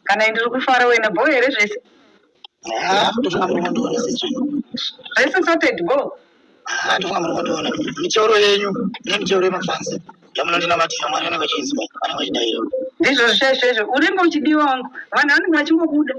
kana ndiri kufara wena bho here zvese zvese sorted bho ndofunga muri kundiona mitoro yenyu nemitoro yemafansi yamunondinamatira mwari anenge achinzwa anenge achidaira ndizvo zvesvezvo urimbo uchidiwa wangu vanhu vanenge vachingobuda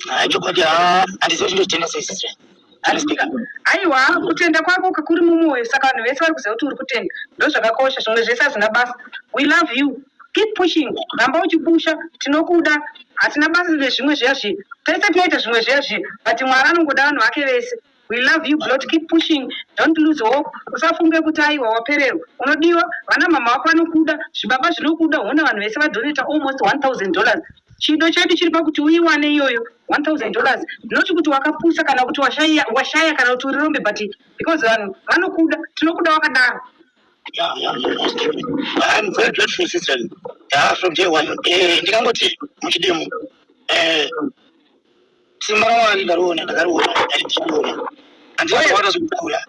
Haa chokwadi haa handizive chinhu chitenda sei sisi vee. Handisipika. Aiwa, kutenda kwako kakuri mumwoyo saka vanhu vese vari kuziva kuti uri kutenda. Ndozvakakosha, zvimwe zvese hazvina basa. We love you. Keep pushing. Ramba uchipusha. Tinokuda. Hatina basa nezvimwe zviya zviya. Tese tinoita zvimwe zviya zviya but Mwari anongoda vanhu vake vese. We love you blot keep pushing don't lose hope usafunge kuti aiwa wapererwa unodiwa vana mama wako vanokuda zvibaba zvinokuda hona vanhu vese vadoneta almost 1000 dollars chido chedu chiri pakuti uiwane iyoyo 1000 dollars not kuti wakapusa kana kuti washaya washaya kana kuti urirombe but because vanhu vanokuda tinokuda wakadaro Yeah, yeah, yeah. I'm very grateful, sister. Yeah, from day one. Eh, ndikangoti muchidemu. Eh, Simba raMwari ndariona, ndakariona kudai ndichiriona. Handina kuona zvekukura.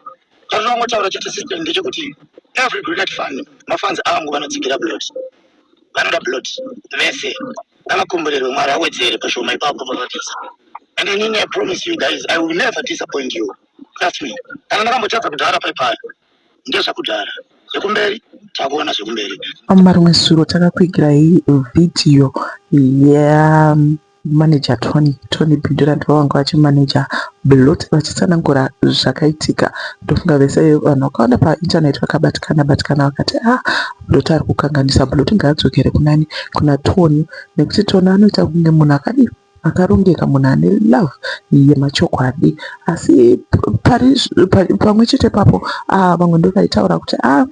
Chandinongotaura chete system ndechekuti every Grenade fan mafans angu vanotsigira Blot. Vanoda Blot vese. Ngavakomborerwe Mwari awedzere pashoma ipapo pavapisa. And inini I promise you guys I will never disappoint you. Trust me. Kana ndakambotadza kudhara pai pai ndezvekudhara zvekumberi takuona zvekumberi. Mama rimwe suro takakuigirai video yemanager Tony Tony Bindurant vavanga vachimanager Blot vachitsanangura zvakaitika ndofunga vese vanhu vakawanda painternet vakabatikana batikana vakati ah Blot ari kukanganisa Blot ngaadzokere kunani kuna Tony nekuti Tony anoita kunge munhu akadii akarongeka munhu ane love yemachokwadi asi pamwe chete papo ah, vamwe ndovaitaura kuti a ah,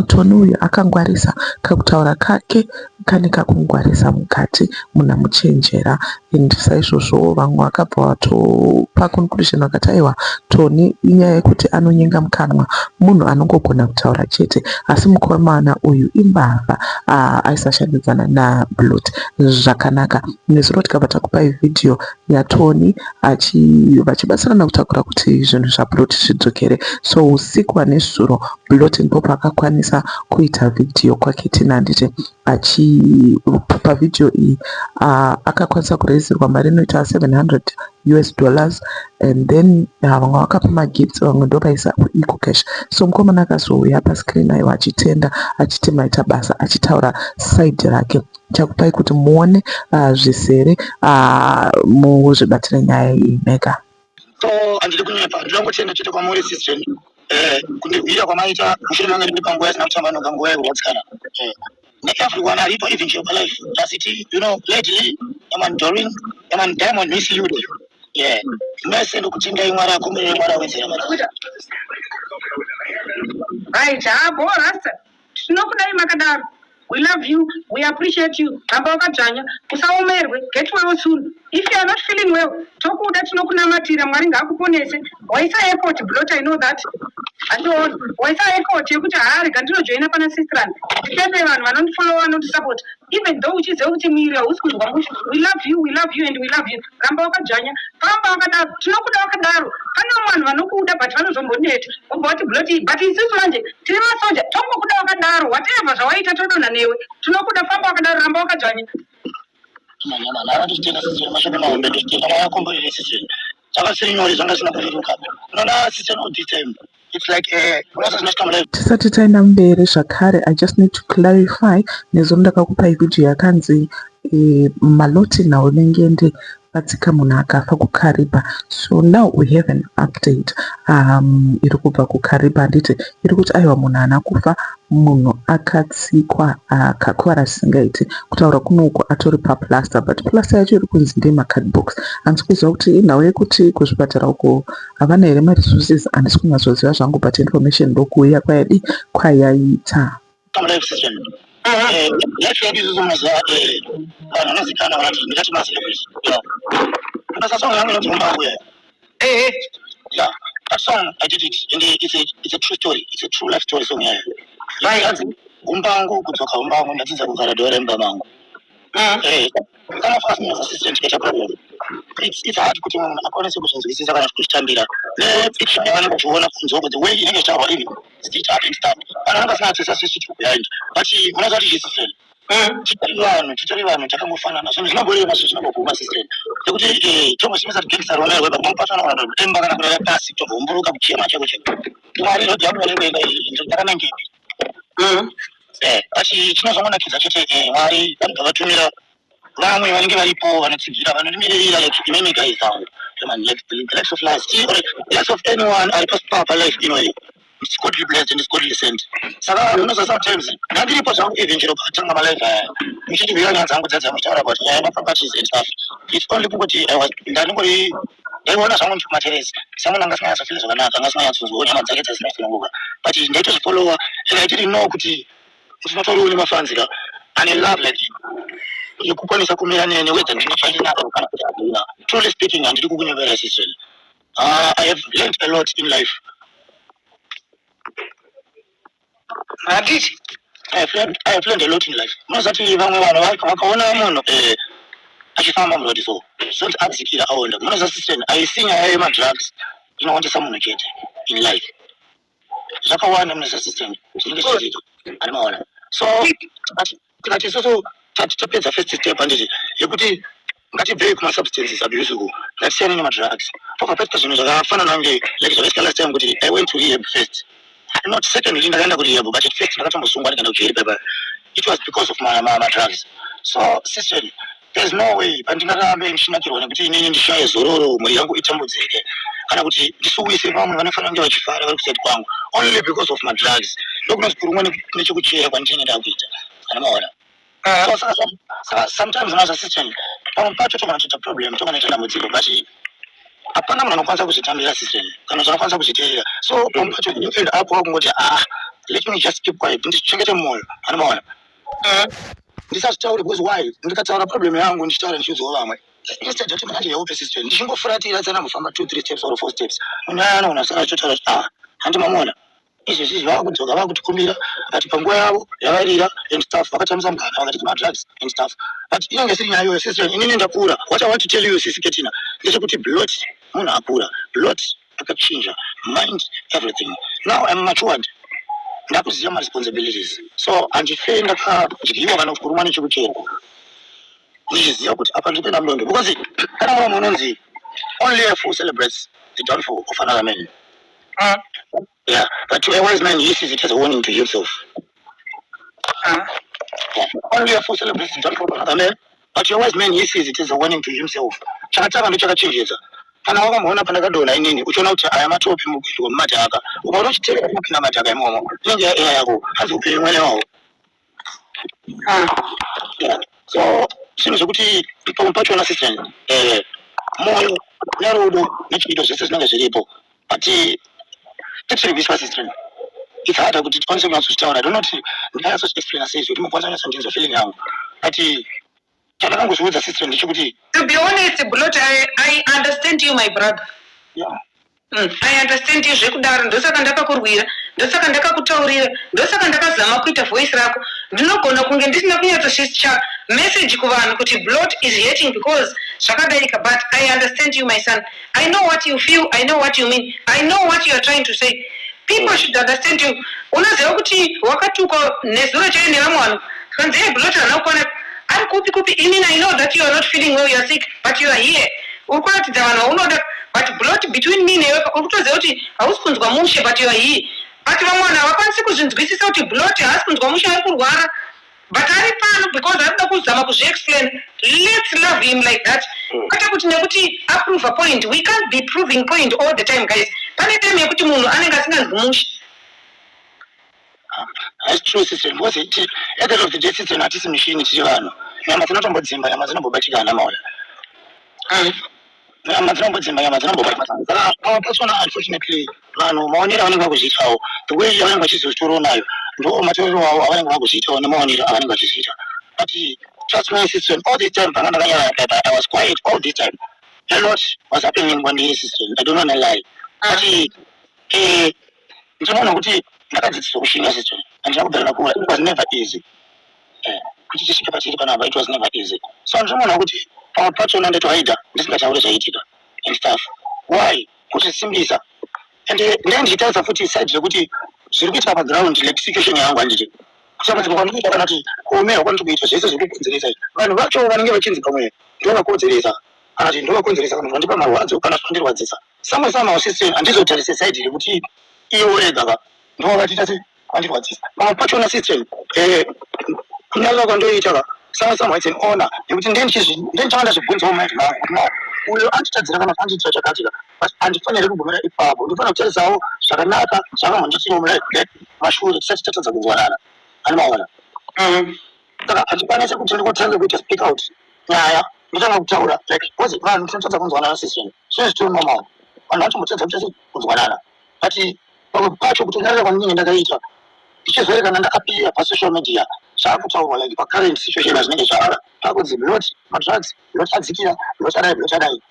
toni uyu akangwarisa kakutaura kake kane kakungwarisa mukati munhu amuchenjera and saizvozvo vamwe vakabva vatopa conclusion vakati aiwa toni inyaya yekuti anonyenga mukanwa munhu anongogona kutaura chete asi mukomana uyu imbavha ah, aisashandidzana nablot zvakanaka nezuro tikabva takupai vhidhiyo yatoni vachibatsirana kutakura kuti zvinhu zvaplot zvidzokere so usiku hwanezuro blotin po paakakwanisa kuita vhidhiyo kwake tina handiti pavhidhiyo iyi akakwanisa kurezirwa mari inoita 700 us dollars and then vamwe vakapa magifts vamwe ndovaisa kueco cash so mukomana akazouya pascreen aiwa achitenda achiti maita basa achitaura side rake chakupai kuti muone uh, zvisere uh, muzvibatire nyaya iyi mega so andidi kunyepa ndinongotenda chete kwamuri sistren eh, kundihwira kwamaita mushure mange ndine panguva yasina kutamba noga nguva yekurwadzikana eh, neeveryone aripo even jeopa life dasiti you know lately yaman dorin yaman diamond miss you day yeah mese ndokutendai mwari akumire mwari awedzera mara aita bho rasta Tinokudai makadaro. We love you, we appreciate you ramba wakadzvanya usaomerwe get well soon if you are not feeling well tokuda tinokunamatira mwari ngaakuponese waisa effort blot i know that andiona waisa effort yekuti haa rega ndinojoina pana sistran nditende vanhu vanondifollowa vanondisupport even though uchiziva kuti muiri hausi kunzwa mushu we love you we love you and we love you ramba wakadzvanya ramba wakadaro tinokuda wakadaro pane vamwe vanhu vanokuda but vanozomboneta wobva wati bloti but isusu manje tiri masoja tongokuda wakadaro whatever zvawaita todonha newe tinokuda famba wakadaro ramba wakadzvanya zvakasiri nyore zvanga zvisina kureruka unoona sisi anodita imba It's like eh, unonzi zvinosvika mudai. Tisati taenda mberi zvakare I just need to clarify nezuro ndakakupai video yakanzi eh, maloti naunengende vatsika munhu akafa kukariba so now we have an update um, iri kubva kukariba handiti iri kuti aiwa munhu haana kufa Munhu akatsikwa akakuvara zvisingaite kutaura kuno uko atori paplaster but plaster yacho iri kunzi ndeyema cardbox handisi kuziva kuti inhau yekuti kuzvipatara uko havana here maresources handisi kunyatsoziva zvangu but information ndokuuya kwayadii kwayaita Ehe. Yeah. That song I did it and it's a it's a true story. It's a true life story song yayo. Mai hanzi umbangu kudzoka umbangu ndadzidza kugara dora imba mangu. Mm. Eh. Kana fast as assistant get a problem. It's it's hard kuti munhu akwanise kuzvinzwisisa kana kuzvitambira. Ne picture yaani kuona kunzoko the way inenge zvawa ini. It's hard and stuff. Kana ungasina tsisa sisi chikuyaini. But unazati yes friend. Umm chitori vanhu chitori vanhu chakangofanana zvinhu zvinongorema zvinhu zvinongoguma sister nekuti eh, chongosimisa gangsta rona iwe pamwe pacho anogona kutemba kana kurara pasi tobvomburuka kuchema cheko cheko mwari rhodhi yako vanenge enda ndakanangepi Umm eh asi chinozongonakidza chete eh, mwari vanobva vatumira vamwe vanenge varipo vanotsigira vanondimirira like imimi guys avo Come on, like the likes of last year, or the likes of anyone ari pasi papa life inoyi It's godly blessed and it's godly sent. Saka unoza sometimes ndandiripo zvangu even chero patanga malive aya muchindibvira nyaya dzangu dzadzaa muchitaura about nyaya yemaproperties and stuff. It's only kungoti I was ndandingori ndaiona zvangu ndichimateresi samuna anga asinganyatsofunga zvakanaka anga asinganyatsonzwawo nyama dzake dzazinafunguka but ndaitozvifollowa and I didn't know kuti unotoriwo nemafanzi ka ane love like yekukwanisa kumira nene whether ndinofanira kana kuti handina. Truly speaking handidi kukunyemerera sister. Uh, I have learned a lot in life. Handiti? I have learned, I have learned a lot in life. Munozati vamwe vanhu vaka- vakaona munhu eh, achifamba muroad so zoti adzikira aonda. Munoza sister aisi nyaya yemadrugs inowandisa munhu chete in life. zvakawanda mune zvesystem zvinenge zvichiitwa ari maona so tikati isusu tapedza first step handiti yekuti ngatibvei kumasubstances abuse uku ngatisiyane nemadrugs pabva paita zvinhu zvakafanana kunge like zvakaita last time kuti i went to rehab first not secondly ndakaenda kurehab but at first ndakatombosungwa ndikaenda kujeri paipa it was because of madrugs so siseni There is no way pandingarambe ndichinakirwa nekuti inini ndishaye zororo mhuri yangu itambudzike kana kuti ndisuwise vamwe vanofanira kunge vachifara vari kuside kwangu only because of madrugs ndokunonzi kurumwa nechekuchera kwandinenge ndakuita kana maona Eh, oh, saka some- saka sometimes unoza system pamwe pacho togona kutoita problem togona kuita dambudziko but hapana munhu anokwanisa kuzvitambira system kana kuti anokwanisa kuzviteerera so pamwe pacho you end up wakungoti ah let me just keep quiet ndichengete mwoyo anomaona Eh, ndisazvitaure because why ndikataura problem yangu ndichitaura ndichiudzawo vamwe instead yekuti manje yewo persistent ndichingofuratira tsana kufamba two three steps or four steps munhu aya anogona kusara achitotaura kuti ah handi mamuona izvezvi zvava kudzoka vava kutikumbira but panguva yavo yavairira and stuff vakatambisa mugana vakati kumadrugs and stuff but inenge isiri nyaya iyoyo sister inini ndakura what i want to tell you sisi ketina ndechekuti blot munhu akura blot ndakachinja mind everything now I'm matured ndakuziva ma responsibilities so handife ndakadyiwa kana kuti kurumwa nechekucherwa ndichiziva kuti apa ndiri kuenda mudondo because kana mumwe munonzi only a fool celebrates the downfall of another man mm. Yeah, but to a wise man, he sees it as a warning to himself. Uh-huh. Yeah. Only a fool celebrates his problem. Amen. But to a wise man, he sees it as a warning to himself. Chakatanga ndochakachenjedza. Kana wakamboona pandakadonha inini, uchiona kuti aya matopi mugwindu wemumadhaka, ukaona uchitereka mukinamata kaimomo, inenge yaiya yako, hanzi upenyu mwene wawo. so zvinhu zvekuti ipomu pachona system eh, moyo nerudo nechiito zvese zvinenge zviripo but tiri kuiswa system it's harder kuti tikwanise kunyatsozvitaura donot ndinganyatsozviexplaina sei zvekuti mukwanisa kunyatsonzvinzwa feeling yangu but chandakangozviudza sister ndechekuti to be honest blot I, i understand you my brother yeah. Mm, i understand you zvekudaro ndosaka ndakakurwira ndosaka ndakakutaurira ndosaka ndakazama kuita voice rako ndinogona kunge ndisina kunyatsoshischa message kuvanhu kuti blot is hating because zvakadaika but i understand you my son I know what you feel, I know what you mean, I know what you are trying to say. People should understand you. Unoziva kuti wakatukwa nezuro chaiyo nevamwe vanhu. Kanzi hey Blot hana kukwana. Ari kupi kupi inini I know that you are not feeling well, you are sick, but you are here. Uri kuratidza vanhu vaunoda but Blot between me newe uri kutoziva kuti hausi kunzwa mushe but you are here. But vamwe vanhu havakwanisi kuzvinzwisisa kuti Blot haasi kunzwa mushe ari kurwara. but ari pano because arikuda kuzama kuzviexplain lets love him like that hmm. kwete kuti nekuti aprove point we can't be proving point all the time guys pane time yekuti munhu anenge asinganzi mushe That's true, sister. Because it, at the end of the day, sister, not this machine, it's your hand. Nyama dzinotombodzimba, nyama dzinombobatika ana maola. nyama dzinombodzimba nyama dzinombobata saka pamwe pachona unfortunately vanhu maonero avanenge vakuzviitawo the way yavanenge vachizozvitorawo nayo ndo matorero avo avanenge vakuzviitawo nemaonero avanenge vachizviita but trust my sister all this time panga ndakanyarara kaipa i was quiet all this time a lot was happening kwandiri sister i don't wanna lie but eh, ndichaona kuti ndakadzidziswa kushinga sister handina kudhara nakura it was never easy eh, kuti tisvike patiri panapa it was never easy so ndichaona kuti pamwe pachona ndaitohaida ndisingataure zvaiitika and stuff why kuzvisimbisa and eh, ndai ndichitaridza futi side rekuti zviri kuitika paground like situation yangu handiti kutambudzika kwandikuita kana kuti kuomerwa kwandiri kuita zvese zviri kukonzeresa izvi vanhu vacho vanenge vachinzi pamwe ndovakonzeresa kana kuti ndovakonzeresa kana kuti vandipa marwadzo kana zvinondirwadzisa Samwe samwe wasisi handizotarise side iri kuti iye worega ka ndovakatiita se vandirwadzisa pamwe pachona system eh kunyarira kwandoita ka samwe samwe it's an honor nekuti ndiye ndichizvi ndiye ndichanga ndazvibvunzawo mai vangu kuti no uyo anditadzira kana kuti andiitira chakati ka but handifaniri kugumira ipapo ndofanira kutarisawo zvakanaka zvakamhonditiwo mulaif mashure tisati tatadza kunzwanana ani maona Mhm. saka hachikwana chekuti ndikotanga kuita speak out nyaya ndotanga kutaura like coz vanhu tinotadza kunzwanana sisini zvine zvitori normal vanhu vanotombotadza kuita sei kunzwanana but pamwe pacho kutonyarira kwandinenge ndakaita ndichizoerekana ndakapira pasocial media zvaakutaurwa like pacurrent situation zvinenge zvaara pakunzi not madrugs not adzikira not adai not adai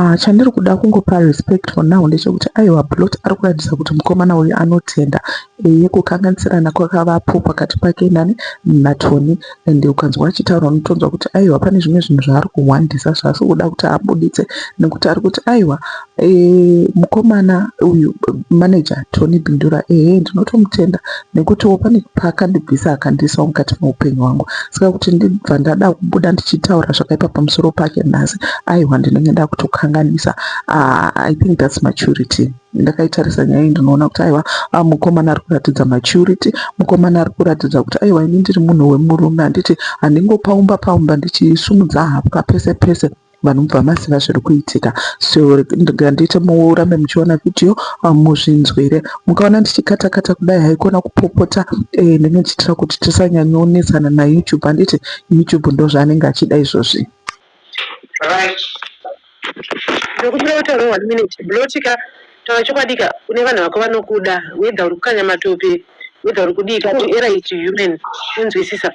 Ah, chandiri kuda kungopa respect for now ndechekuti aiwa blot ari kuratidza kuti mukomana uyu anotenda eye kukanganisirana kwakavapo pakati pake nani natoni and ukanzwa achitaura unotonzwa kuti aiwa pane zvimwe zvinhu zvaari kuhwandisa zvaasi kuda kuti abuditse nekuti ari kuti aiwa e, mukomana uyu manager tony bindura ehe ndinotomutenda nekutiwo pane paakandibvisa akandiisawo mukati meupenyu wangu saka kuti ndibva ndada kubuda ndichitaura zvakaipa pamusoro pake nhasi aiwa ndinenge ndakutokanganisa ah, i think thats maturity ndakaitarisa nyaya iyi ndinoona kuti aiwa ah, mukomana ari kuratidza maturity mukomana ari kuratidza kuti aiwa ini ndiri munhu wemurume handiti handingopaumba paumba ndichisumudza hapwa pese pese vanhu mubva maziva zviri kuitika so ngandiite murambe muchiona vhidhiyo um, muzvinzwire mukaona ndichikata kata kudai haikona kupopota eh, ndinenge ndichiitira kuti tisanyanyoonetsana nayoutube handiti youtube ndozvaanenge achida izvozvi right. Taura chokwadi ka une vanhu vako vanokuda whether uri kukanya matope whether uri kudii ka to error is human unzwisisa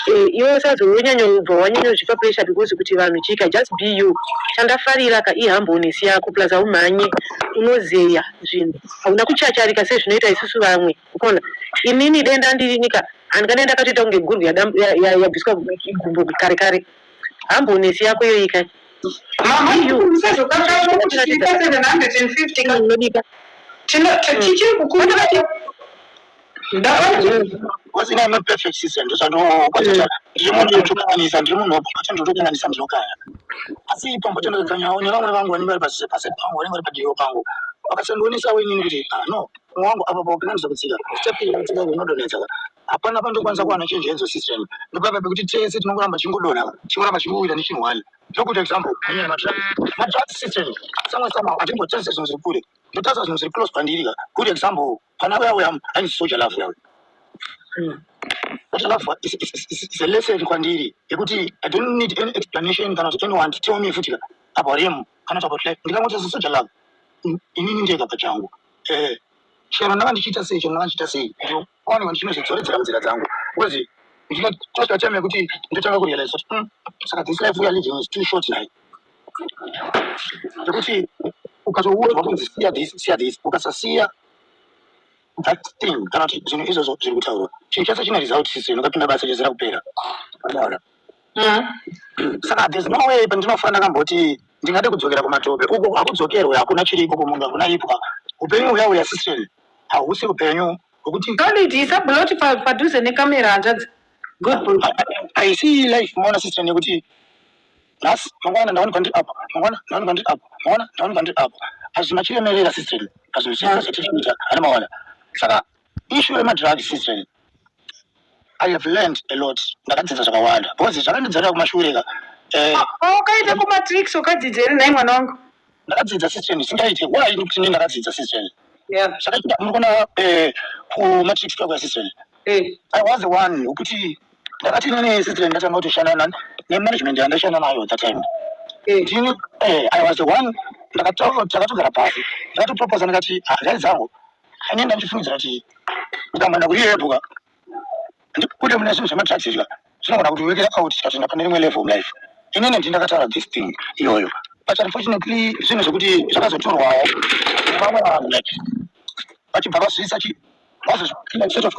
eh, iwe usazo wonyanyobva wanyanyozvipa pressure because kuti vanhu chii ka just be you chandafarira ka ihumbleness yako plus haumhanye unozeya zvinhu hauna kuchacharika sezvinoita isusu vamwe ukona inini denda ndirini ka handikadai ndakatoita kunge gurwe yadam- ya- ya- yabviswa igumbo kare kare Humbleness yako iyoyi kai. Mama you usazokakatwa kuti tiri pa 750 ka. Unodika. Tino tichiri kukumbira ke. Ndabati Because ina not perfect sister ndozvandokwatata ndiri munhu unotokanganisa ndiri munhu wapakati ndotokanganisa ndinokaya asi pambotenderedza nhau nevamwe vangu vanenge vari pasi pasi pangu vanenge vari padivo pangu vakasandionesawo inini kuti ah no mwoyo wangu apa paukanganisa kutsika step iyi kutsika kunodonhedza hapana pandokwanisa kuwana change hedzo system ndopapa pekuti tese tinongoramba chingodonha chingoramba chingowira nechinhu one ndokuita example anyaya madrugs madrugs system samwe samwe hatimbotarisa zvinhu zviri kure ndotarisa zvinhu zviri close pandiri ka good example pana uya uya ainzi soja love uya uya But love is, is, is, is a lesson kwandiri yekuti i don't need any explanation kana kuti anyone to tell me futi ka about him kana kuti about life ndikangoti sesoja love inini ndega pachangu eh chero ndanga ndichiita sei chero ndanga ndichiita sei One one chinozvidzoredzera munzira dzangu because ndinotosvika time yekuti ndotanga kurealize kuti mm, saka this life we are living is too short nhai zvekuti ukazoudzwa kunzi siya this siya this ukasasiya that thing kana kuti zvinhu izvozvo zviri kutaurwa chinhu chese chine result sisi ndokapinda basa chezera kupera Wadaona? saka there's no way pandinofana ndakamboti ndingade kudzokera kumatope uko hakudzokerwe hakuna chiriko kumunhu hakuna ipwa upenyu huya huya sisireni hausi hupenyu hwekuti Solid isa blot pa padhuze ne camera hanzvadzi good bro. haisi life maona sister nekuti nhasi mangwana ndawanikwa ndiri apo mangwana ndawanikwa ndiri apo mangwana ndawanikwa ndiri apo hazvina chiremerera sister pazvinhu zvese zvatiri kuita hana maona saka issue remadrugs sister I have learned a lot. Ndakadzidza zvakawanda. Because zvakandidzorera kumashure ka. Eh. Wakaita kumatricks ukadzidza here nhai mwana wangu? Ndakadzidza system isingaite. Why ndikuti ndini ndakadzidza system? Yeah. Zvakaita muri kuona eh kumatricks kwako ya system. Eh. I was the one wekuti ndakati nini system ndatanga kutoshanda nani nemanagement yandaishanda nayo at that time. Eh. Ndini eh I was the one ndakataura takatogara pasi. Ndakatoproposa ndakati ah guys avo Ane ndachifungidzira kuti ndikamhanda kuri iyeyo bhuka ndikude mune zvinhu zvemadrugs izvi zvinogona kuti wekera out tikatoenda pane rimwe level mulife inini ndi ndakataura this thing iyoyo but unfortunately zvinhu zvekuti zvakazotorwawo nevamwe vanhu like vachibva vazviisa chi vazozvipinda instead of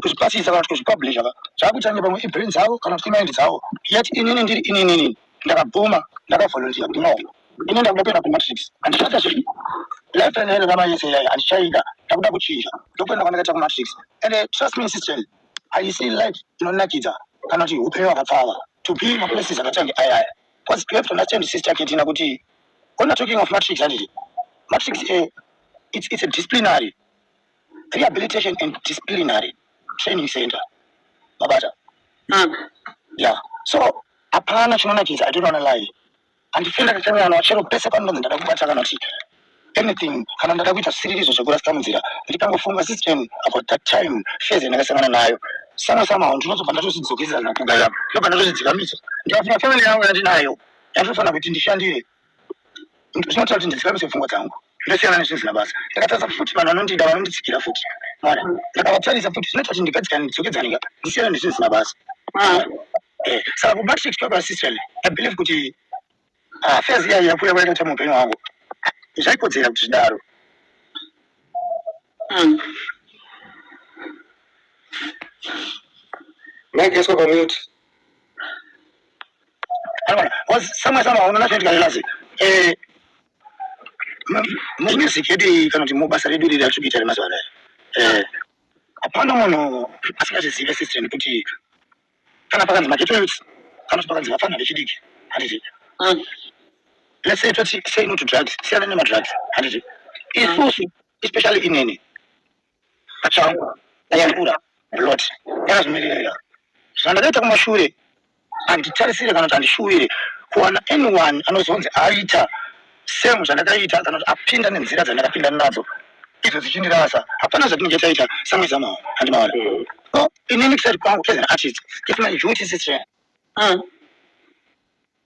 kuzvipasisa kana kuti kuzvipublisha ka zvakuita kunge pamwe ibrain dzavo kana kuti imaindi dzavo yet inini ndiri ininini Ndakabvuma, ndakavolunteer kuti no ini ndakuda kuenda kumatrix handichatya zviripo life plan yangu yava yese iyayi handichaida ndakuda kuchinja ndokuenda kwandakaita kumatrix ende trust me sister haisi life inonakidza kana kuti upenyu hwakapfava to be maplaces akatange ayaya bcause you have to understand sister ketina kuti ona talking of matrix handiti matrix eh, it's, it's a disciplinary Rehabilitation and Disciplinary Training Center. Mabata. Mm. Yeah. So hapana chinonakidza I don't wanna lie. Handifenda kachanyana wachero pese panonzi ndada kubata kana kuti anything kana ndada kuita zvisiririzo zvekurasika munzira ndikangofunga system about that time phase yandakasangana nayo sana somehow ndinozobva ndatozvidzokesera kugaira ndobva ndatozvidzikamisa ndikafunga family yangu yandinayo yatofanira kuti ndishandire zvinoita kuti ndidzikamise pfungwa dzangu ndosiyana nezvisina basa ndakatarisa futi vanhu vanondida vanonditsigira futi mwana ndakavatarisa futi zvinoita kuti ndipedzikane ndidzokedzane ka ndisiyana nezvisina basa ah, eh, saka kumatrix kwekwaasisrel abelieve kuti ah, faz iyayi yakuya kwayakaita muupenyu hwangu zvaikodzera kuti zvidaro hmm. mageswa pamute samwe sama unoona zvinoitika lelase eh, mumusiki yedu kana kuti mubasa redu riri ratiri kuita remazuva anaya eh, hapana munhu asingazvizive system kuti kana pakanzi mageto youths kana kuti pakanzi vafana vechidiki handiti mm. let's say toti say no to drugs siyana nemadrugs handiti isusu especially inini Pachangu ndayambura blood ndakazvimirira zvandakaita kumashure handitarisire kana kuti handishuvire kuwana anyone anozonzi aita same zvandakaita kana kuti apinda nenzira dzandakapinda nadzo idzo dzichindirasa hapana zvatinenge taita samwezamawo handimaona so inini kusati kwangu as an artist if my duty sister mm.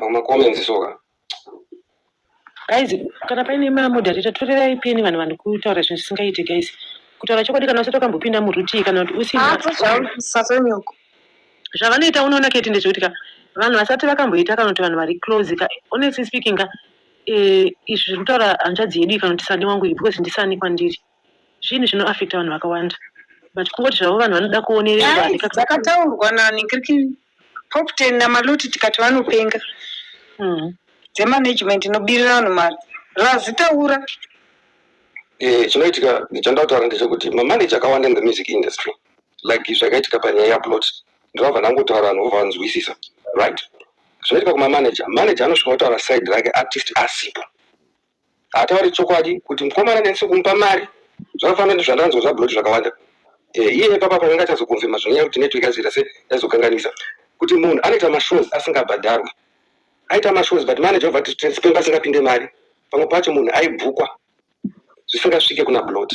Mama comments soka. guys kana paine mamoderata torerai peni vanhu vanhu kutaura zvinhu zvisingaite guys kutaura chokwadi kana usati wakambopinda murutii kana kuti usina Hapo shauri sasa nyoko. zvavanoita unoona kti ndezvekuti ka vanhu vasati vakamboita kana kuti vanhu vari close ka honestly speaking ka eh, izvi zviri kutaura hanzvadzi yedu iyi kana kuti sani wangu iyi because ndisani kwandiri zvinhu zvino affecta vanhu vakawanda but kungoti zvavo vanhu vanoda kuonererwa Guys, handikaka- dzakataurwa nani kiriki pop ten namaloti tikati vanopenga Mhm. dzemanagement inobirira vanhu mari razitaura Eh, chinoitika chandakutaura ndechekuti mamaneja akawanda in the music industry like zvakaitika panyaya yaplot ndovabva ndangotaura vanhu vobva vanzwisisa right zvinoitika kumamanager manager anosvika otaura side rake artist asipo haatauri chokwadi kuti mukomana ndanisi kumupa mari zvakafanana nezvandanzwa zvablot zvakawanda eh, iye ipapa panenge achazokonfirma zvinonyaya kuti network yazoita se yazokanganisa kuti munhu anoita mashows asingabhadharwi aita mashows but manager obva tisipemba asingapinde mari pamwe pacho munhu aibhukwa zvisingasvike kuna blot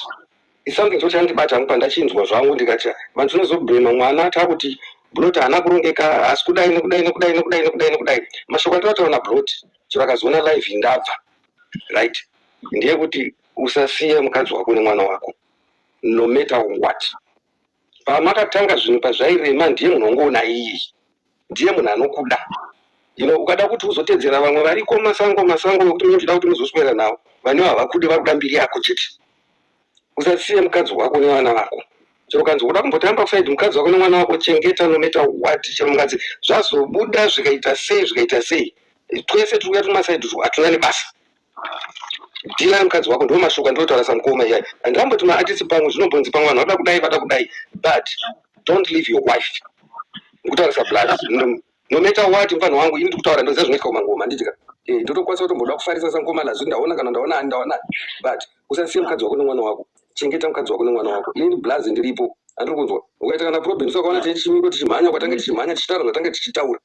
isomething choti chandibata hangu pandachinzwa zvangu ndikati vanhu tinozobhema mwana taakuti blot haana kurongeka haasi kudai nekudai nekudai nekudai nekudai nekudai mashoko atinotaura nablot chero akazoona live indabva right ndeyekuti usasiye mukadzi wako nemwana wako no matter what pamakatanga zvinhu pazvairema ndiye munhu ongoona iyi ndiye munhu anokuda you know ukada kuti uzotedzera vamwe variko masango masango wekuti munotoda kuti muzoswera navo vanewo havakude vari kuda mbiri yako chete usasiye mukadzi wako nevana vako chero kanzi uda kumbotamba kusaidi mukadzi wako nemwana wako chengeta nometa wati chero mukadzi zvazobuda zvikaita sei zvikaita sei twese tiri kuya tumasaidi twu hatuna nebasa Dina mukadzi wako ndiwo mashoko andinotaura samukoma iyayi and amboti maartist pamwe zvinombonzi pamwe vanhu vada kudai vada kudai but don't leave your wife ndikutaura sablas no, no matter what mfana wangu ini ndikutaura ndoziva zvinoitika kumangoma handitika Eh, ndotokwanisa kutomboda kufarisa samukoma la zvi ndaona kana ndaona ani ndaona but usasiye mukadzi wako nemwana wako chengeta mukadzi wako nemwana wako ini blaz ndiripo andiri kunzwa ukaita kana problem so ukaona tichimiko tichimhanya kwatange tichimhanya tichitaura zvatange tichitaura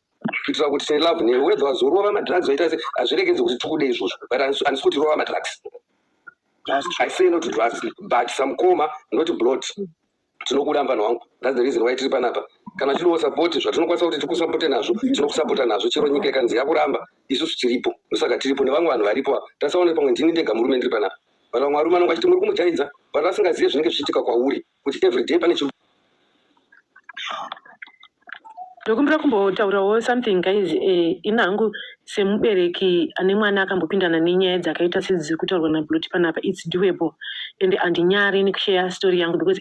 kuitira kuti say love newe whether wazorova madrugs waita se hazviregedzi kuti tikude izvozvo but handisi kuti rova madrugs i say not drugs but some coma not blood tinokuda mvana wangu that's the reason why tiri panapa kana tinowo sapoti zvatinokwanisa kuti tikusapote nazvo tinokusapota nazvo chero nyika ikanzi yakuramba isusu tiripo ndosaka tiripo nevamwe vanhu varipo ava tasaona pamwe ndini ndega murume ndiri panapa vana vamwe varume anonga achiti muri kumujaidza vana vasingazive zvinenge zvichiitika kwauri Kuti everyday pane chiri. Ndokumbira kumbotaurawo something guys eh, ini hangu semubereki ane mwana akambopindana nenyaya dzakaita sedziri kutaurwa naBloti panapa it's doable ende handinyari nekusheya story yangu because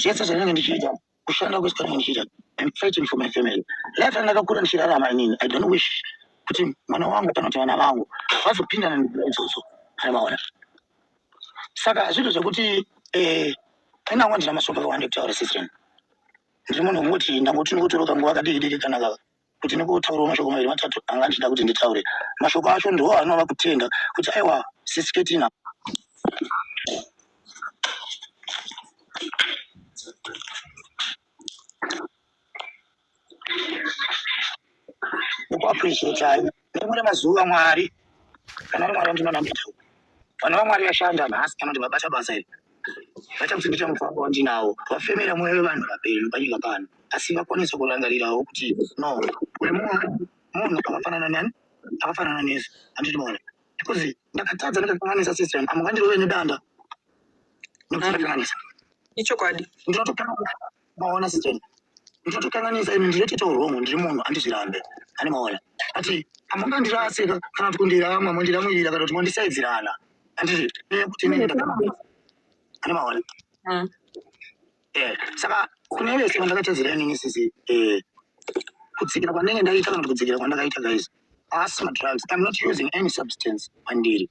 zvese zvandinenge ndichiita kushanda kwese kwandinenge ndichiita I'm fighting for my family life yandakakura ndichirarama inini I don't wish kuti mwana wangu kana kuti vana vangu vazopindana nekuda idzodzo aivaona saka hazvito zvekuti eh, inango ndina masoko akawanda ekutaura sisren ndiri munhu wekuti ndangoti ndikutoroka nguva kadiki diki kana kuti nekutotaurawo mashoko maviri matatu anga andichida kuti nditaure mashoko acho ndiwo anova kutenda kuti aiwa sisiketina kuappreciatai Rimwe remazuva Mwari, kana uri Mwari wandinonamata, vana vaMwari vashanda nhasi kana kuti vabata basa iri vachakusimbisa mufambo wandinawo wafemera mwoyo wevanhu vapenyu panyika pano asi vakwanisa kurangarirawo kuti no kune mumwe munhu akafanana nani akafanana nesu andindiona because ndakatadza ndakakanganisa sister yangu amwe vandirove nedanda nekuti ndakakanganisa ichokwadi ndinotopera maona secheni ndotokanganisa ini ndinotoita urombo ndiri munhu andizvirambe ane maona ati amungandirasika kana kuti kundirama mondiramwirira kana kuti mondisaidzirana andizvi nekuti ini ndakaramwa ane maona mm. eh, saka kune vese vandakatadzira inini sisi eh, kudzikira kwandenge ndaita kana kuti kudzikira kwandakaita guys asi madrugs I'm not using any substance pandiri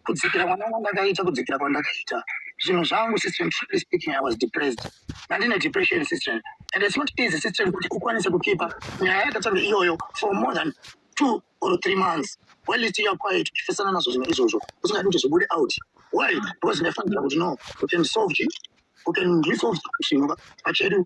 kudzikira mwana kwandakaita kudzikira kwandakaita zvinhu zvangu system truly speaking I was depressed ndandine depression system and it's not easy system kuti ukwanise kukipa nyaya yakatanga iyoyo for more than two or three months well it's your quiet uchifesana nazvo zvinhu izvozvo usingati kuti zvibude out why because ndafanira kuti no you can solve it you can resolve zvinhu pachedu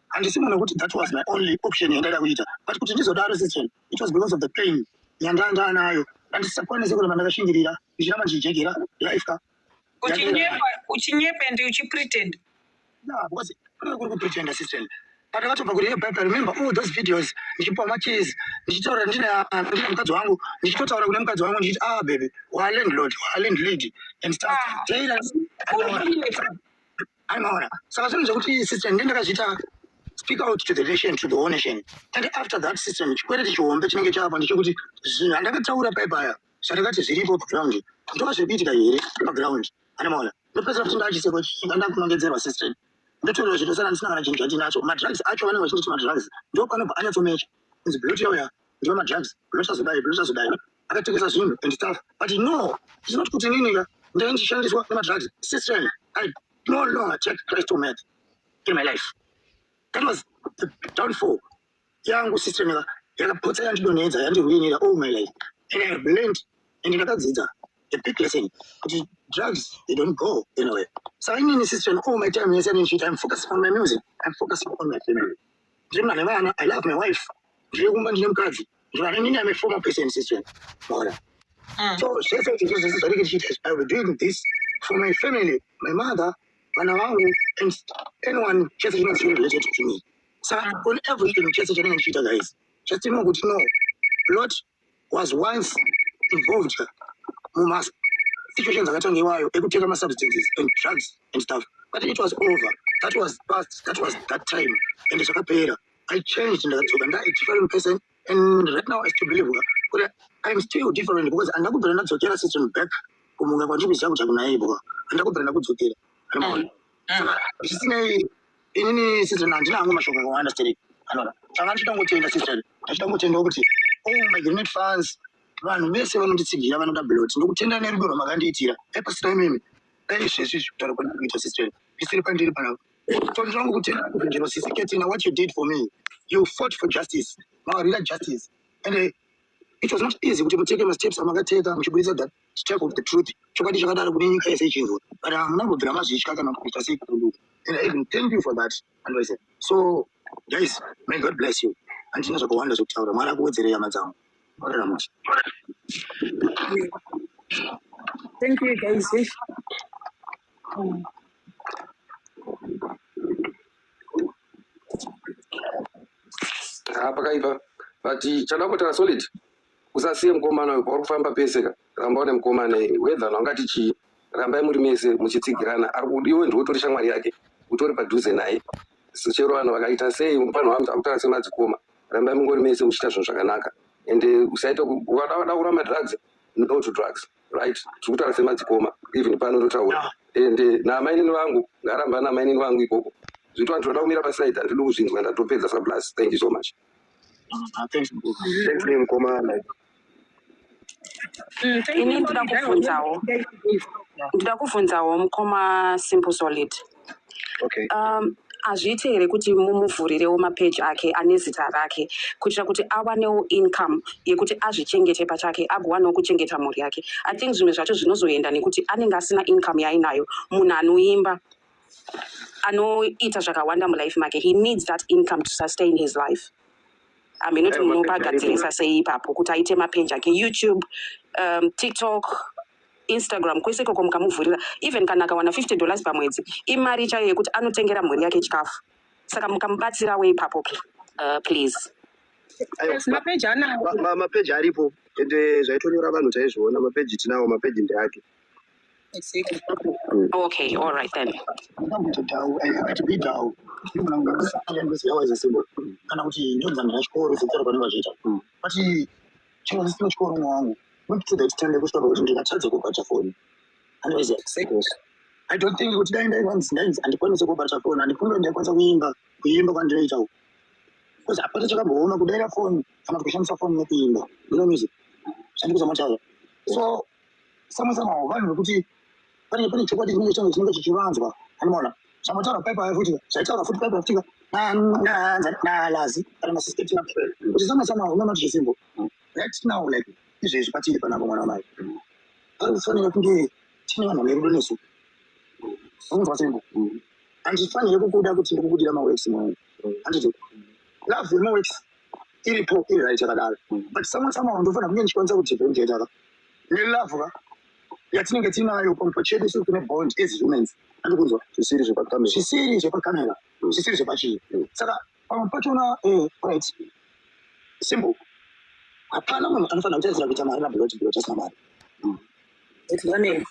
handisi munhu wekuti that was my only option yandaida kuita but kuti ndizodaro section it was because of the pain yandanga anayo andisakwanise kuramba ndakashingirira ndichiramba ndichijegera life ka uchinyepa uchinyepa and uchipretend yeah because kuri kuri kupretenda system patakatobva kuri yebhaibai remember all those videos ndichipiwa macheese ndichitaura ndine ndine mukadzi wangu ndichitotaura kune mukadzi wangu ndichiti ah bebe walandlord walandlady and stuff ah. anoona saka zvinhu zvekuti system ndiye ndakazviita speak out to the nation to the whole nation and after that system chikwereti chihombe chinenge chava ndechekuti zvinhu andakataura paipaya zvandakati zviripo paground ndova zviri kuitika here paground anomaona ndopedzera kuti ndachiseko andakunongedzerwa system ndotorerwa zvitosara ndisina kana chinhu chandinacho madrugs acho vanenge vachinditi madrugs ndopanobva anyatsomecha inzi beauty yauya ndiwo madrugs zvinosazodai zvinosazodai akatengesa zvinhu and stuff but no it's not kuti ininika ndai ndichishandiswa nemadrugs system i no longer take christ to math in my life that was the downfall yangu system yaka yakapotsa yandidonhedza yandirwinira all my life and i have learned and ndakadzidza a big lesson kuti drugs they don't go anywhere so inini system all my time yese anendichiita i'm focusing on my music i'm focusing on my family Ndiri mwana vana, I love my wife. Ndiri kumba ndine mukadzi. Ndiri vana nini, I'm a former person since when. Mwana. Mm. So, zvese izvi ndizvo zvese zvatinenge tichiita izvi. I will be doing this for my family, my mother, vana vangu, and anyone chese chinenge chiri related to me. Saka on everything chese chandinenge ndichiita guys, just know kuti no, Lord was once involved mumas situations akatanga iwayo ekutenga masubstances and drugs and stuff but it was over that was past that was that time and zvakapera i changed ndakadzoka nda a different person and right now i still believe kuti i'm still different because andina kubvira ndadzokera system back kumunga kwandiri kuziva kuti akunaibwa andina kubvira ndakudzokera zvisinei inini sizoni handina hangu mashoko akawanda sterek anora tanga ndichitangotenda sisteri ndichitangotendawo kuti o oh, my grenet fans vanhu vese vanonditsigira vanoda blot ndokutenda nerudo rwamakandiitira epasina imimi dai zvesvi zvekutaura kwandiri kuita sisteri ndisiri pandiri panapa tonzwa ngokutenda kuvhengero sisi ketina what you did for me you fought for justice mawarira justice and it was not easy kuti muteke masteps amakateka muchibudisa that to tell of the truth chokwadi chakadaro kune nyika yese ichinzwa but hamuna kubvira mazvitya kana kuita sei kudu and i even thank you for that andise so guys may god bless you handina zvakawanda zvekutaura mwari akuwedzerei hama dzangu oreramuti thank you guys ah, pakaipa but chadakotara solid usasiye mukomana uyu pauri kufamba pese ka ramba une mukomana iye wedha naungati chii rambai muri mese muchitsigirana ari kudi iwe ndiwe utori shamwari yake utori padhuze naye chero vanhu vakaita sei mupanhu vanhu akutaura semadzikoma rambai mungori mese muchiita zvinhu zvakanaka ende usaita ukada kuramba drugs no to drugs right tiri kutaura semadzikoma even pano totaura ende naamainini vangu ngaramba naamainini vangu ikoko zvitwa ndinoda kumira paside handidi kuzvinzwa ndatopedza sablus thank you so much Ini ndoda kuvhunzawo ndoda kuvhunzawo mukoma simple solid okay. um, hazviite here kuti mumuvhurirewo mapeji ake ane zita rake kuitira kuti awanewo income yekuti azvichengete pachake agowanawo kuchengeta mhuri yake i think zvimwe zvacho zvinozoenda nekuti anenge asina income yaainayo munhu anoimba anoita zvakawanda mulife make he needs that income to sustain his life hameno kuti munopa agadzirisa sei ipapo kuti aite mapenji ake youtube um, tiktok instagram kwese ikoko mukamuvhurira even kana akawana 50 dollars pamwedzi imari chaiyo yekuti anotengera mhuri yake chikafu saka mukamubatsirawo ipapo uh, please mapeji aripo ende zvaitonyora vanhu taizviona mapeji tinawo mapeji ndeake Okay, all right then. kana kuti ndonzanga yachikoro zedzera kwanenge vachiita but chero zisino chikoro mwa wangu wepitida chitande kusvika pakuti ndikatadza kubata foni andoziva sekos i don't think kuti dai ndaivanzi ndainzi handikwanise kubata foni handifunge ndaikwanisa kuimba kuimba kwandinoita uku bcause hapana chakamboona kudaira foni kana kuti kushandisa foni nekuimba you know music zvandikuzomatava so samwe samwe vanhu vekuti pane pane chokwadi chinenge change chinenge chichivanzwa anoona zvamataura paipa futi zvaitaura futi paipa futika nalazi kana masisiteti napel kuti samwe samwe unoona kuti zvisimbo right now like izvezvi patiri panapo mwana wamai ari kufanira kunge tine vanhu vane rudo nesu zvinzwa sembo handifanire kukuda kuti ndikukudira maweksi mwangu handiti love yemaweksi iripo iri right yakadaro but samwe samwe ndofanira kunge ndichikwanisa kudifferentiataka nelove ka yatinenge tinayo pamufo chedu siri tine bond as humans andikunzwa zvisiri zvepakamera zvisiri zvepakamera mm. zvisiri zvepachii mm. saka pamwe pachona eh, right simple hapana munhu anofanira kutadzira kuita mari nablot blot asina mari mm. etianei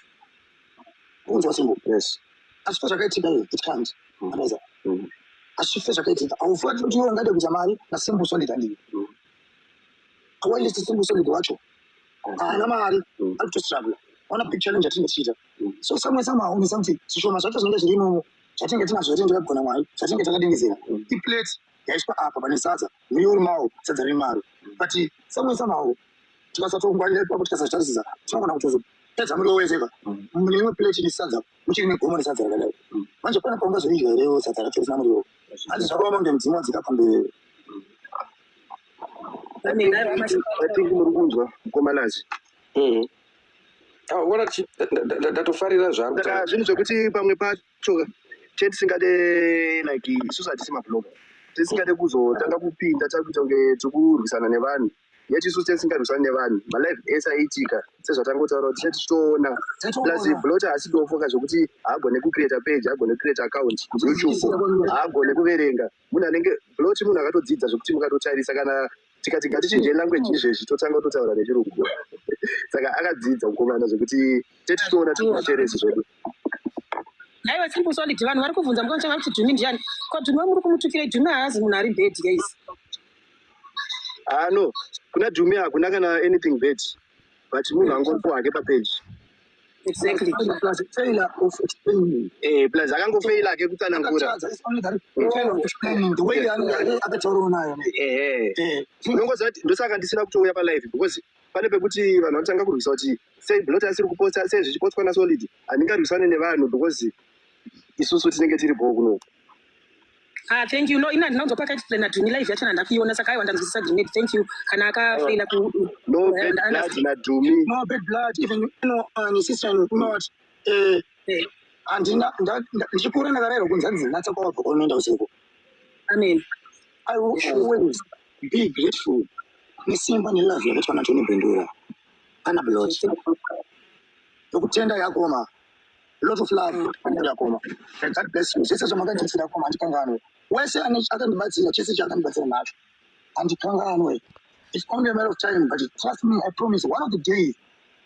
kunzwa simple yes asi fa zvakaitika iyo it can't anoza asi fe zvakaitika aufuati kuti iwe ungade kuita mari nasimple solid andii awalist simple solid wacho haana mari ari kutostruggle ona big challenge yatinenge tichiita so samwe samwe aone something zvishoma zvacho zvinenge zviri imomo zvatinenge tinazvo here ndikagona mwari zvatinenge takadingizira iplate yaiswa apa pane sadza muriwo uri mawo sadza riri maro but samwe samawo tikasatongwarira ipapo tikasazvitarisisa tinogona kutozo pedza muriwo wese ka mune imwe plate ine sadza muchiri negomo resadza rakadai manje pane paungazoidya here sadza racho risina muriwo hanzi zvakaoma kunge mudzimu wadzika pamberi think muri kunzwa mukomanazi mm-hmm. ah, ona ndatofarira zvaazvinhu zvekuti pamwe pacho chetisingade like isusu hatisi mabloga tisingade kuzotanga kupinda takuita kunge tikurwisana nevanhu yeti isusu tesingarwisani nevanhu malife ese aiitika sezvatangotaura kuti chati titoona plus blota asi tofoka zvekuti haagone kucreata page haagone kucreata account youtube haagone kuverenga munhu anenge loti munhu akatodzidza zvekuti mukatotarisa kana tikati ngatichinjei language mm. izvezvi totanga kutotaura nechirungu saka akadzidza kukomana zvekuti tete tinoona tikumateresi zvedu aiwa tiri kusolid vanhu vari kubvunza muka muchava kuti dhumi ndiani ko dhumi wamuri kumutukirei dhumi haazi munhu ari bed guys ano ah, kuna dhumi hakuna kana anything bed but munhu angoripo hake papeji Exactly. Plus, failure of explaining. Eh, plus akangofeila ke kutsanangura. It's only that failure of explaining the way akataurawo nayo. Eh, eh. Unongoziva kuti ndosaka ndisina kutouya palive because pane pekuti vanhu vanotanga kurwisa kuti sei blot asiri kuposta sei zvichipostwa nasolid handingarwisane nevanhu because isusu tinenge tiri bhoo kunoku Ah, thank you. No, ina ndinonzwa paka explain to me live yacho ndandakuiona saka aiwa ndanzwisisa grenade. Thank you. Kana akafaila ku No eh, bad nda- blood nda- na Dumi. no bad blood even no uh, sister in not eh eh, andina nda- nda- ndichikura ndakarayirwa kunzi hanzi natsa kwawabva kwaunoenda usiku Amen. i will always be grateful nesimba nelove yakaitwa natoni bendura kana blot nokutenda yakoma lot of love andirakoma and god bless you zvese zvamakandisira koma handikanganwe wese akandibatsira chese chaakandibatsira nacho handikanganwe it's only a matter of time but trust me i promise one of the days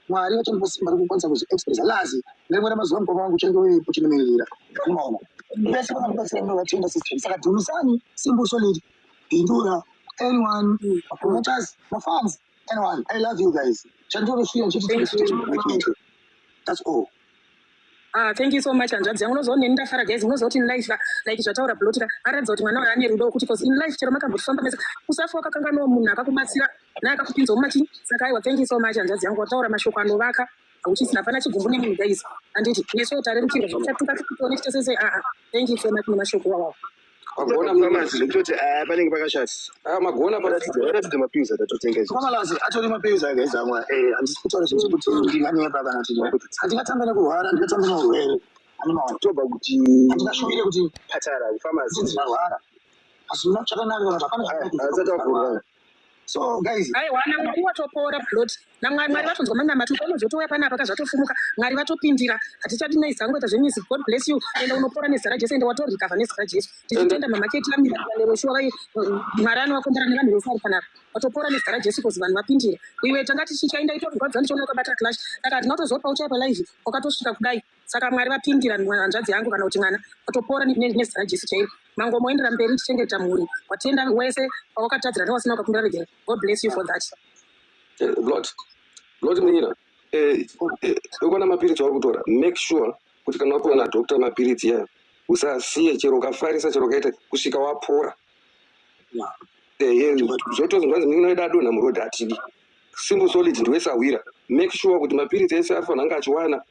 mwari vachandipa simba rekukwanisa kuzviexpressa lazi nerimwe ramazuva mukoma wangu uchange uri kuchinimiririra unoona vese vakandibatsira ndo vatenda system saka dhumisani simbuso liri bindura anyone mapromoters mafans Anyone, I love you guys. Chandinosiya ndicho Thank chitendero you. chinoda kuitwa. That's all. Ah, thank you so much hanzvadzi yangu unozoona ini ndafara guys unoziva kuti in life ka like zvataura bloti ka aratidza kuti mwana uyu ane rudo wekuti cause in life chero makambofamba mese usafa wakakanganwa munhu akakubatsira naye akakupinza mumachi saka aiwa thank you so much hanzvadzi yangu wataura mashoko anovaka hauchisina hapana chigumbu nemunhu guys handiti nesu tarerukirwa zvichatuka tukutoone chitese sei aa Thank you so much nemashoko wawawo. Magona muramazi zvekutoti eh, panenge pakashata. Ah, magona paratidza paratidza mapiuzi atatotenga izvi. Kwamalazi atori mapiuzi ake zamwa. Eh, handisi kutaura zvinhu zvekuti ndinganyepa kana kuti kuti handingatamba nekurwara, handingatamba neurwere. Handinawo toba kuti handingashuvire kuti patara kufamazi ndinorwara. Asi munotsvakananga kana zvapana. Hazatavhurwa. so guys aiwa namwari watopora plot namwari mwari vatonzwa manamati ukaonozotouya panapa kazvatofumuka mwari vatopindira hatichadi naizi hangu ita zvemizi god bless you ende unopora nezita rajesu ende watorikavha nezita rajesu tichitenda mamaketi vamiraneveshuwa vai mwari anovakombera nevanhu vese ari panapa watopora nezita rajesu kozi vanhu vapindira iwe tanga tichichaenda itorigwadzwa ndichiona ukabata clash saka hatina kutozopa uchaya palive wakatosvika kudai saka mwari vapindira hanzvadzi yangu kana kuti mwana atopora nezita rajesu chairo mango moendera mberi tichengeta mhuri watenda wese wawakatadzira newasina ukakumbira regera god bless you for that eh, lord lord munyira eh, eh, ukona mapiritsi wauri kutora make sure kuti kana wapiwa nadokta mapiritsi yayo usasiye chero ukafarisa chero ukaita kusvika wapora zvotozi mwanzi munyina wedu adonha murodhi atidi simple solid ndiwese awira make sure kuti mapiritsi ese ari fanhanga achiwana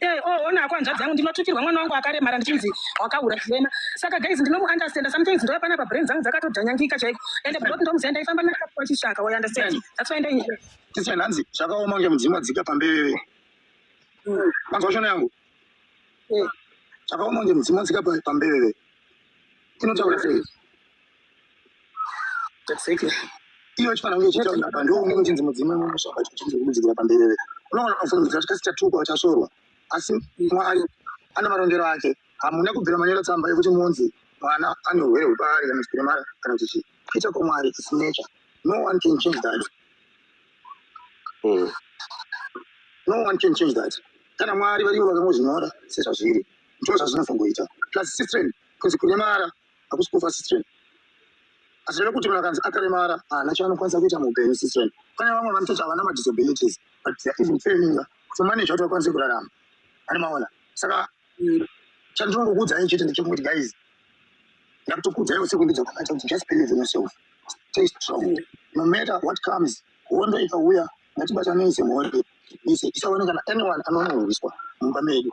Eh, oh, ona hako hanzvadzi yangu ndinotukirwa mwana wangu akaremara ndichinzi wakahura chirema saka guys ndinomuunderstanda sometimes ndova panapa brain dzangu dzakatodhanyangika chaiko ende brought ndomuziva ndaifamba nakapiwa chishaka you understand that's why ndai tese nhanzi zvakaoma kunge mudzimu wadzika pambeveve mm. manzwa shona yangu eh. zvakaoma kunge mudzimu wadzika pambeveve inotaura sei Exactly. Iyo chifanira kunge chichitaura apa ndiwo unenge uchinzi mudzimu unosvaka chichinzi kumudzikira pamberere. Unoona unofana kuziva kuti chikasikatuka uchasvorwa. Asi Mwari ane marongero ake. Hamuna kubvira manyora tsamba yekuti munzi mwana ane urwere hwepaari kana chipiremara kana kuti chii. Kuita kwaMwari is nature. No one can change that. Mm. No one can change that. Kana Mwari varivo vakangozvinyora sezvazviri. Ndizvo zvazvinofanira kuita. Plus sister kunzi kuremara hakusi kufa sister azvireve kuti munhu akanzi akaremara haana chaanokwanisa kuita muupenyu sister pane vamwe vanototi havana madisabilities but they're even failing to manage kuti vakwanise kurarama ari maona saka mm, chandinongokuudzai chete ndechekuti guys ndakutokuudzai usiku ndidzo kwakaita kuti just believe in yourself stay strong no matter what comes hondo ikauya ngatibatanei semhondi ise isaone kana anyone anonohwiswa mumba medu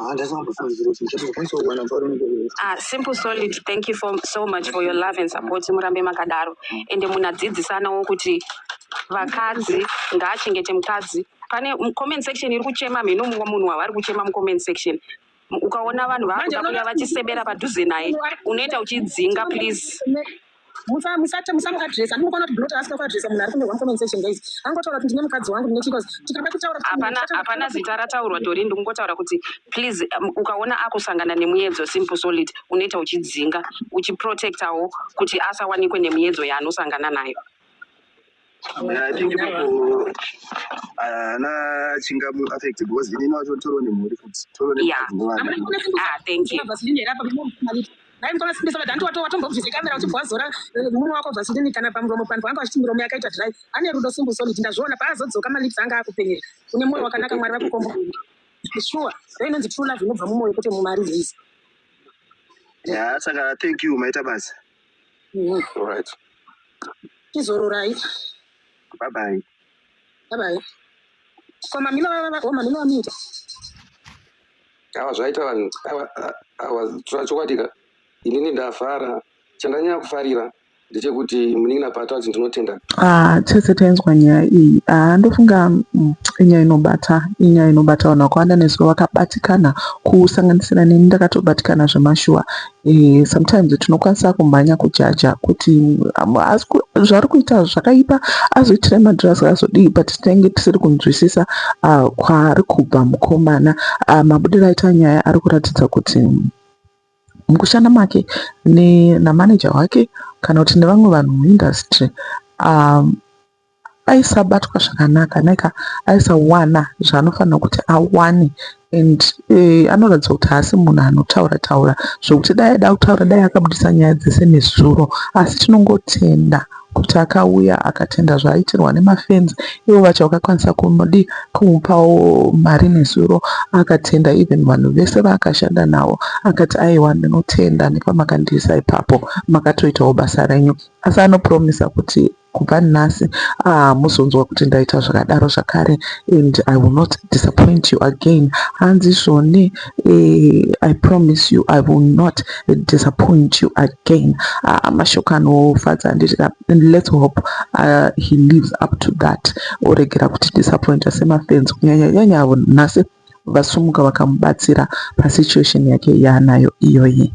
Ah, that's not the phone. It's just a phone. So when I'm calling you, Ah, simple solid thank you for, so much for your love and support murambe makadaro ende munadzidzisanawo kuti vakadzi ngaachengete mukadzi pane m- comment section iri kuchema mhino mumwe munhu wavari kuchema mucomment section M- ukaona vanhu vakuda kuya vachisebera padhuze naye unoita uchidzinga please musa musate musamuadresa ndinokona kuti ndinoti asina kuadresa munhu ari kunyorwa mucomment section guys angotaura kuti ndine mukadzi wangu ndine chikozi tikada kutaura hapana zita rataurwa tori ndikungotaura kuti please um, ukaona akusangana nemuyedzo simple solid unoita uchidzinga uchiprotectawo kuti asawanikwe nemuyedzo yaanosangana nayo I think ipapo ana chingamu affect because ini wacho toro nemhuri futi toro Yeah. nemhuri nevana. Ah, thank you. Vaseline apa dai mukona simbisa vadanti wato watombobvisa kamera uchibva wazora eh, murume wako vaseline kana pamuromo panhu wanga vachiti miromo yakaita dry ane rudo simbu solid ndazviona paazodzoka malips anga akupenyera une mwoyo wakanaka mwari vakukomba sure ndo inonzi true love inobva mumwoyo kwete mumari hizi Yeah, saka thank you maita basa. All right. Tizororai. Bye bye. Bye bye. Kwa mamina vava vava mamina vamita. Awa zvaita vanhu awa awa tsura chokwadi ka inini ndafara chandanyanya kufarira ndechekuti munin'ina paata kuti ndinotenda ah tese tainzwa nyaya iyi ah ndofunga mm, inyaya inobata inyaya inobata vanhu vakawanda nezuva vakabatikana kusanganisira neni ndakatobatikana zvemashuwa Eh, sometimes tinokwanisa kumhanya kujaja kuti um, zvaari kuita zvakaipa azoitira madhirasi azodii but tinenge tisiri kunzwisisa uh, kwaari kubva mukomana uh, mabudiro aita nyaya ari kuratidza kuti mukushanda make namaneja wake kana kuti nevamwe vanhu muindustry um, aisabatwa zvakanaka neka aisawana zvaanofanira kuti awane and eh, anoratidza kuti haasi munhu anotaura taura zvekuti dai aida kutaura dai akabudisa nyaya dzese nezuro asi tinongotenda kuti akauya akatenda zvaaitirwa nemafenzi ivo vacho vakakwanisa kumudi kumupawo mari nezuro akatenda even vanhu vese vaakashanda navo akati aiwa ndinotenda nepamakandiisa ipapo makatoitawo basa renyu asi anopromisa kuti kubva nhasi hamuzonzwa ah, kuti ndaita zvakadaro zvakare and i will not disappoint you again hanzi zvoni eh, i promise you i will not disappoint you again ah, mashoko anofadza handiti let's hope uh, he lives up to that oregera kuti disappointa semafenzi kunyanya nyanya avo nhasi vasumuka vakamubatsira pasituation yake yaanayo iyoyi